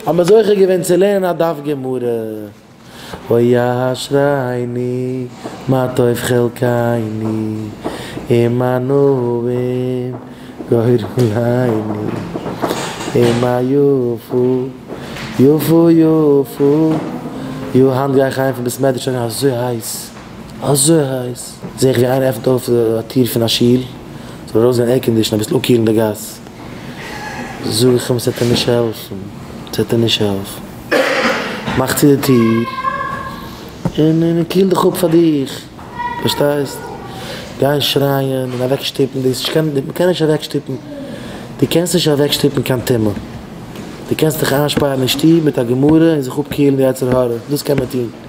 האבן מיר זוכה געווען צו לערנען א דף גמרא, אוי אשריני מה טוב חלקיני און מה נעים גורליני און מה יפו יפו יפו יו, היינט גיי איך אהיים פון בית מדרש אריין אזוי הייס אזוי הייס, זעה איך ווי איינער עפנט אויף א טיר פון א שול, ס'זאל ארויסגיין עירקאנדישן אביסל אפקילן די גאס. זאג איך אים ס'עט אים נישט העלפן, ס'עט אים נישט העלפן, מאך צו די טיר און און קיל דיך אפ פאר דיך, פארשטייסט? גיין שרייען און אוועק שטופן דאס נישט, מען קען נישט אוועק שטופן, דו קענסט נישט אוועק שטופן קיין טומאה, דו קענסט דיך איינשפארן אין שטוב מיט א גמרא און זיך אפקילן די יצר הרע, דאס קען מען טון.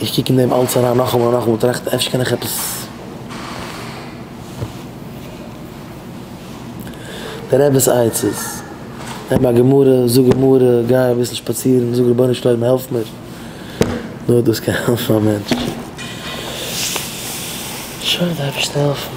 איך קוק אין דעם אלץ אריין נאכאמאל און נאכאמאל טראכטן אפשר קען איך עפעס דער רב'ס עצות, נעם א גמרא, זאג גמרא, גיי אביסל שפאצירן, זאג רבונו של עולם העלף מיר, נאר דאס קען העלפן א מענטש. שוין די אייבערשטער העלפן.